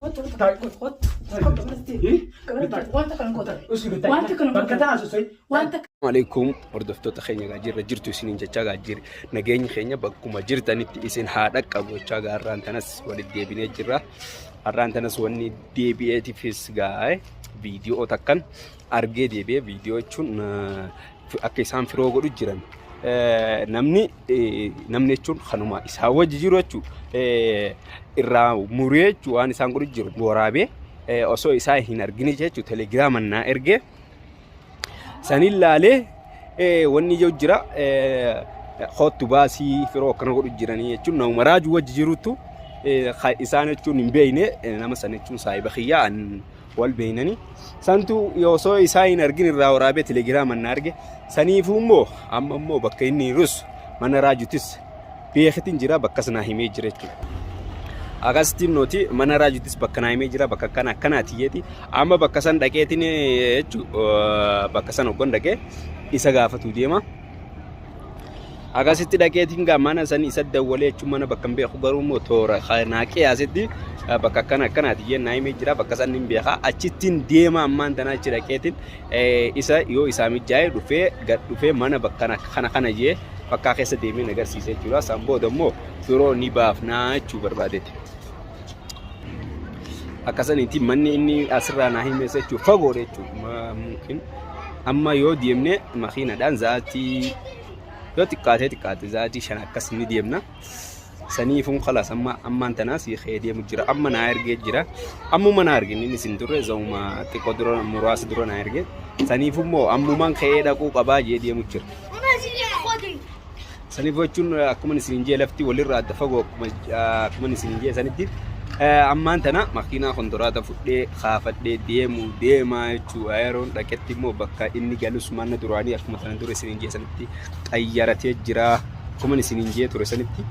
Kottu kottu Taa'e, kottu kottu taa'e. kottu gabaratti Eh? gabaratti wanta kana kottu Usii bitaa. wanta kana Bakka kottu taa'an sosoi. wanta Maaleykum hordoftoota keenya gaa jirra jirtu isiniin jechaa gaa jirra nageenyi keenya bakkuma jirtanitti isin haa dhaqqabu jechaa gaa har'aan tanas walitti deebinee jirra har'aan tanas wanni deebi'eetifis gaa'e viidiyoo takkan argee deebi'ee viidiyoo jechuun eh, akka isaan firoo godhu jiran Eh, namni namni jechuun kanuma isaa wajji jiru jechuudha. Irraa muree jechuudha waan isaan godhu jiru waraabee osoo isaa hin argine jechuudha telegiraaman naa ergee saniin laalee wanni ijoo jira hoottu baasii firoo akkana godhu jiranii jechuun nama raaju wajji jirutu isaan jechuun hin beekne nama sana jechuun saayiba kiyyaa wal beeynani santu osoo isaa hin argin irraa waraabee telegiraama na arge saniifuu immoo amma immoo bakka inni jirus mana raajutis beekitin jira bakka sanaa himee jira jechuudha. Akkasittiin nuti mana raajutis bakka naa himee jira bakka akkana akkanaati jeeti amma bakka san dhaqeetiin jechuudha bakka san hoggan dhaqee isa gaafatu deema. Akkasitti dhaqeetiin gaa mana sanii isa dawwalee jechuun mana bakka hin beeku garuu immoo toora naa qiyaasetti bakka akkana akkanaati jee naa himee jira bakka san hin beekaa achittiin deema ammaan tanaa achi dhaqeetiin isa yoo isaa mijaa'ee dhufee gad dhufee mana bakka kana kana jee bakkaa keessa deemee agarsiisee jechuudha san booda immoo biroo ni baafnaa jechuu barbaadeeti. Akkasaniiti manni inni asirraa naa himeessa jechuun fagoodha jechuudha. Mungkin amma yoo deemne makiinadhaan zaatii yoo xiqqaatee xiqqaate zaatii shan akkas ni deemna. Saniifun kalas amma ammaan tanaa si kee deemu jira. Amma naa ergee jira. Ammuma naa ergin inni sin turre zauma xiqqoo dura muraasa dura naa ergee. Saniifummoo ammumaan ka'ee dhaquu qabaa jee deemu jira. Saniif jechuun akkuma isin jee lafti walirraa adda fagoo akkuma akkuma isin jee sanitti ammaan tana makiinaa kontoraata fudhee kaafadhee deemu deemaa jechuu yeroon dhaqetti immoo bakka inni galus manna duraanii akkuma sana dura isin jee sanitti qayyaratee jira akkuma isin jee ture sanitti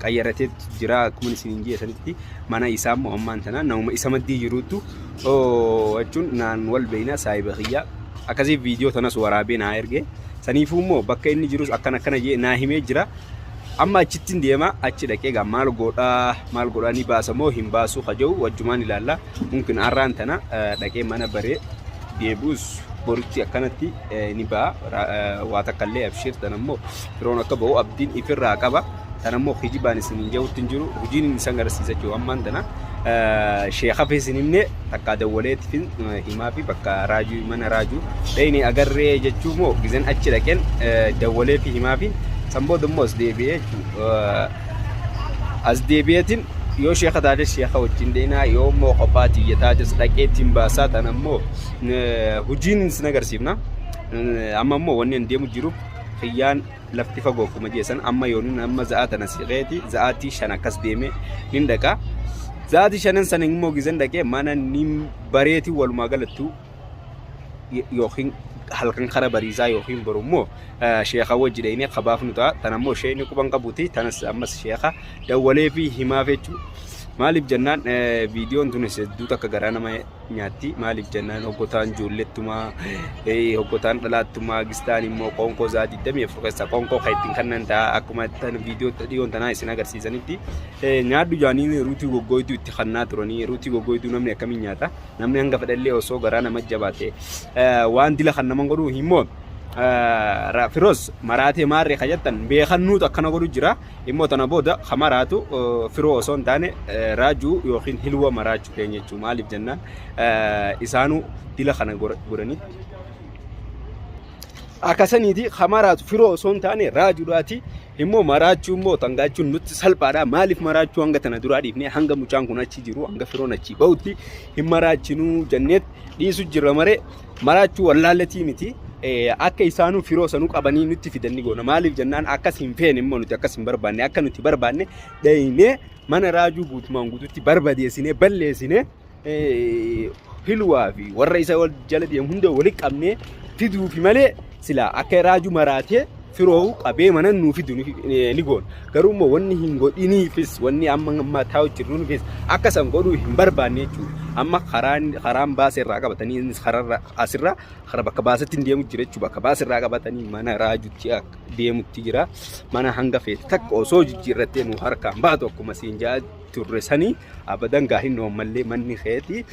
qayyaratee jira akkuma isin jee sanitti mana isaa immoo ammaan tana namuma isa maddii jiruutu jechuun naan wal beeyna saayiba kiyyaa akkasii viidiyoo tanas waraabee naa ergee. Saniifuu immoo bakka inni jirus akkan akkana jee naa himee jira. Amma achittin deema achi dhaqee gaa maal godhaa maal godhaa ni baasa moo hin baasuu kaja'u wajjumaan ilaalla. Mumkin arraan tana dhaqee mana baree deebi'us boritti akkanatti ni ba'a. Waa takka illee abshiir tana immoo firoon akka ba'u abdiin ifirraa qaba. Tan ammoo kijibaan isinin je'utti hin jiru. Hujiin inni isan garsiisa jechuudha. Ammaan tana sheekhafi isin himne takkaa dawwaleetifin himaafi bakka raajuu mana raajuu dhayne agarree jechuu moo gizan achi dhaqen dawwaleefi himaafi san booda immoo as deebi'ee jechuudha. As deebi'eetiin yoo sheekha taate sheekha wajjin deemaa yoo immoo kophaa tiyya taates dhaqeetiin baasaa tan ammoo hujiin isin agarsiifna. Amma immoo wanni hin deemu jiruuf kiyyaan lafti fagoo akkuma jeessan amma yoon inni amma za'aa tana siqeeti za'aatii shan akkas deemee nin dhaqa. Za'aatii shanan sana immoo gizan dhaqee mana nin bareeti walumaa galattu yookiin halkan kara bariisaa yookiin boru immoo sheekaa wajji dhaqnee kabaaf nu ta'a. Tana immoo ishee inni quban qabuti tanas ammas sheekaa dawwalee fi himaaf jechuudha. Maaliif jennaan viidiyoon tunis hedduu takka garaa nama nyaatti maaliif jennaan hoggotaan ijoollettumaa hoggotaan dhalaattumaa gistaan immoo qoonqoo isaa 24 keessaa qoonqoo kan ittiin kannan ta'a akkuma tan viidiyoo dhiyoon tanaa isin agarsiisanitti nyaadhu jaaniin ruutii goggooytuu itti kannaa turanii ruutii goggooytuu namni akkamiin nyaata namni hanga fedhallee osoo garaa nama jabaate waan dila kan naman godhuu immoo firoos maraatee maarree kan jettan beekannuutu akkana godhu jira immoo tana booda kan maraatu firoo osoo hin taane raajuu yookiin hilwa maraachuu ta'een jechuun maaliif jennaan isaanuu dila kana godhanii akkasaniiti hamaraatu firoo osoo hin taane raajuudhaati immoo maraachuu immoo tangaachuun nutti salphaadha maaliif maraachuu hanga tana duraa dhiifne hanga mucaan kun achi jiru hanga firoon achi ba'utti hin maraachinuu jenneet dhiisu jirra maree maraachuu wallaallatii miti akka isaanuu firoo sanuu qabanii nutti fidanni goona maaliif jennaan akkas hin feene immoo nuti akkas hin barbaanne akka nuti barbaanne dhaynee mana raajuu guutumaan guututti barbadeessinee balleessinee hilwaa fi warra isa wal jala deemu hunda walitti qabnee fiduufi malee silaa akka raajuu maraatee firoohu qabee mana nuu fidu ni goona. Garuu immoo wanni hin godhiniifis wanni amma ammaa taa'u jirruufis akka san godhuu hin barbaanne jechuudha. Amma karaan karaan baasee irraa qabatanii innis kararra asirra kara bakka baasetti hin deemu jira jechuudha. Bakka baasee irraa qabatanii mana raajutti akka deemutti jira. Mana hanga feete takka osoo jijjiirrattee nu harkaan baatu akkuma siin jaa turre sanii abadan gaa hin oommallee manni keeti.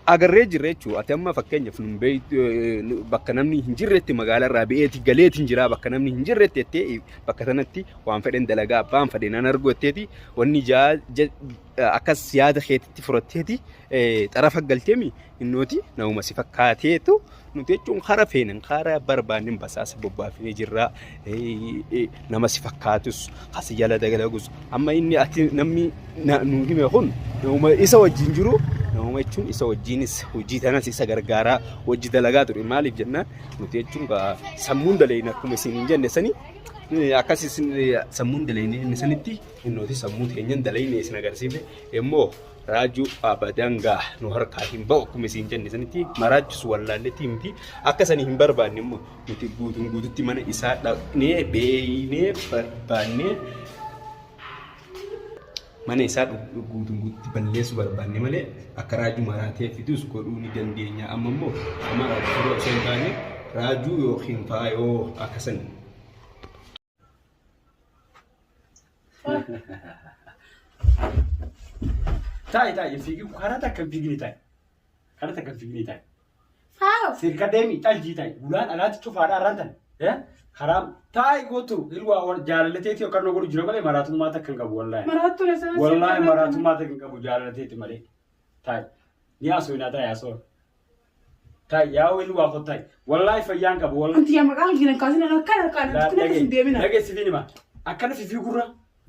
Agarree jirra jechuudha. Ati amma fakkeenyaaf nun beektu eh, nu- bakka namni hin jirretti magaalaa irraa ba'eeti galeeti hin jira bakka namni hin jirretti jettee bakka sanatti waan fedhen dalagaa abbaan fedhe nan argu jetteeti wanni jaa ja- akkas yaada keetitti furatteeti eh, xarafa galteemi innooti nauma si fakkaateetu Nuti jechuun hara feenan hara barbaannin basaasa bobbaafnee jirra. Nama si fakkaatus asi jala dagalagus amma inni ati namni nu hime kun isa wajjin jiru nama jechuun isa wajjinis hojii tanas isa gargaaraa hojii dalagaa ture maaliif jennaan nuti jechuun sammuun dalayin akkuma isin hin jenne sanii akkas isin sammuun dalayin inni sanitti nuti sammuu keenyan dalayin isin agarsiifne immoo raajuu abadan gaa nu harkaa hin ba'u akkuma isiin jenne sanitti maraachisu wallaalletti miti akka sanii hin barbaanne immoo nuti guutuun guututti mana isaa dhaqnee beeynee barbaannee mana isaa guutuun guututti balleessuu barbaanne malee akka raajuu maraatee fidus godhuu ni dandeenya amma immoo amma raajuu osoo hin taane raajuu yookiin faayoo akka sanii Taa'e taa'e fiigi karaa takka hin fiigine taa'e. Karaa takka hin fiigine taa'e. Saaro. Sirka deemi xaljii taa'e. Gulaan alaatti cufaadha arraan tan. Eh? Karaa taa'e gootu ilwaa wal jaalalateeti yookaan nu godhu jira malee maraatummaa takka hin qabu wallaahi. Maraattuu na sana. Wallaahi maraatummaa takka hin qabu jaalalateeti malee. Taa'e. Ni haasoo hin haa taa'e haasoo. Tay yaa wayii dhugaa koo tay. Wallaahi fayyaan qabu wallaahi. Anti yaa maqaan kiyya hin kaasin akka akka akka akka akka hin deemina. Lage sifi nima. Akkana fifi gurra.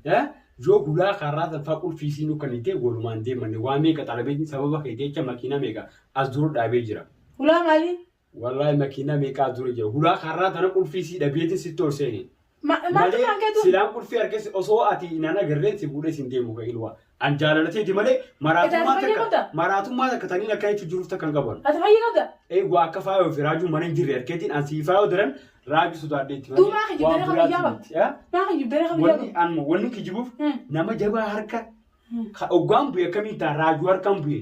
Eh? Yoo guyyaa kaarraa san faa qulfii siin kan itti walumaan deemanne waa meeqa xalabeetiin sababa kee jecha makiinaa meeqa as dura dhaabee jira. Hulaa maali? Wallaahi makiinaa meeqa as dura jira. Guyyaa kaarraa sana qulfii sii dhabeetiin sitti ol seene. Ma- maaltu Malee isaan keetu? silaan qulfii harkes osoo ati inaan agarreen si fuudhee siin deemu kan ilwaa. An jaalalateeti malee maraatummaa Edaa fayyee takka qabda? maraatummaa takka taniin akka jechuun jiruuf takka hin qaban. Ati fayyee qabda? Eeguu akka faayoo fi raajuu mana hin jirre harkeetiin an sii faayoo daran raajuu sodaadheetti malee Duuba kijibdee waan kan biraati biyyaa miti. qabda. Yaa? Maa kan jibdee kan biyyaa Wanni qabda? an wanni kijibuuf Hmm. nama jabaa harka Hmm. ka oggaan bu'e akkamiin ta'a raajuu harkaan bu'e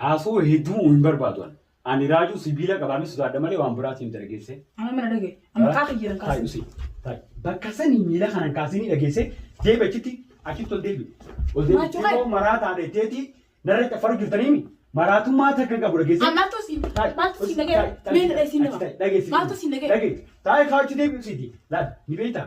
Haasoo hedduu hin barbaadu an. Ani raajuu sibiila qabaamee sodaadha malee waan biraatiin dargeesse. Amma mana dhagaye. Amma kaa kiyyaran Taa'i kaasa. usii. Taa'i. Bakka sanii miila kanaan kaasanii dhageesse deebi achitti achitti ol deebi. Ol deebi. Maachuu Xiqqoo kee. maraa taatee teetii narra caffaru jirtaniimi. Maraatummaa takka qabu dhageesse. Maaltu siin maaltu siin dhagee mee na dhageessiin nama maaltu siin dhagee Taa'i kaachuu deebi usiiti. Laal ni beektaa.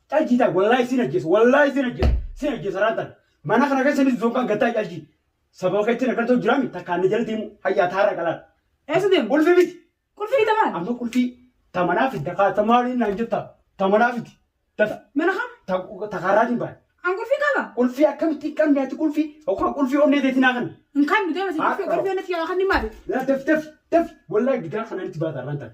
Calji taa wallahi sin ajjesa wallahi sin ajjesa sin ajjesa raatan mana kana keessa ni zonkaan gattaa calji sababa keetti na gartoo jiraami takkaan na jala deemu hayyaa taara qalaan eessa deemu qulfii miti Qulfii ni tamaan. amma qulfii tamanaa fidda kaa tamaaliin naan jettaa tamanaa fidi tata Mana kam? takaarraatiin baane An qulfii qaba. qulfii akkamitti hin qabne ati qulfii yookaan qulfii onnee teetii naa kana Hin kan nu deemasi Ah, qulfii qaba. qulfii onnee tiyyaa kan ni maali? laa daf daf daf wallahi gidaa kanaan itti baata irraan tana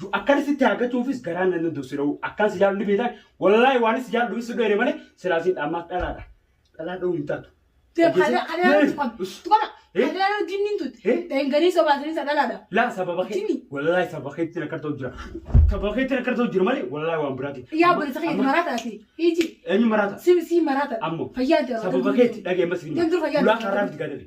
Du akkan sitti haagachuufis garaan nan danda'u sira'u akkan si jaallu ni beektaan wallaahi waan si jaallu si dheere malee silaa siin dhaammaas dhalaadha dhalaa dha'uu hin taatu. Laa sababa kee wallaahi sababa keetti rakkata ta'u jira sababa keetti rakkata ta'u jira malee wallaahi waan biraati. Eenyu maraata? Ammoo sababa keetti dhaga'e mas hin gulaa kaarraa miti gaadame.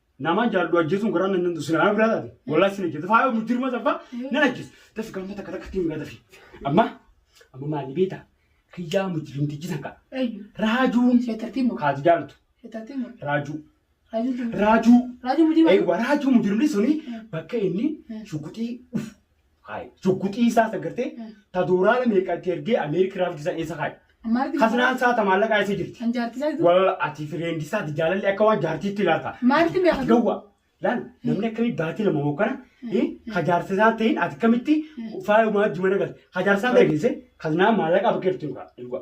Namaan jaallu ajjeesuun garaan nan danda'u sinaa biraa taate wallahi sin ajjeesa faayoo mujjirma sabbaa nan ajjeesa dafi galma takka takkatti hin gadafi amma amma maali beeta kiyyaa mujjirmtichi takka Ayyu. raajuun Sheetartii moo? kaati jaaltu Sheetartii moo? raajuu Raajuun tumte. raajuu Raajuun mujii eegwa raajuu mujjirmni suni bakka inni shuguxii dhufu Haay. Sukkuxii isaa sagartee ta doolaara meeqa itti ergee Ameerika irraa fiddisan eessa haay. Maarti Hasinaan isaa ta maallaqaa eessa jirti. kan jaartisaa jiru. Walla ati fireendi isaati jaalalli akka waan jaartiitti ilaalta. Maarti meeqa Ati gawwa. Laal namni akkamii baatii lama moo kana ka jaarsa isaa ta'in ati akkamitti faayuma wajji mana galte. Ka jaarsa isaa ta'e geesse kazinaa maallaqaa bakka jirtu hin ga'a.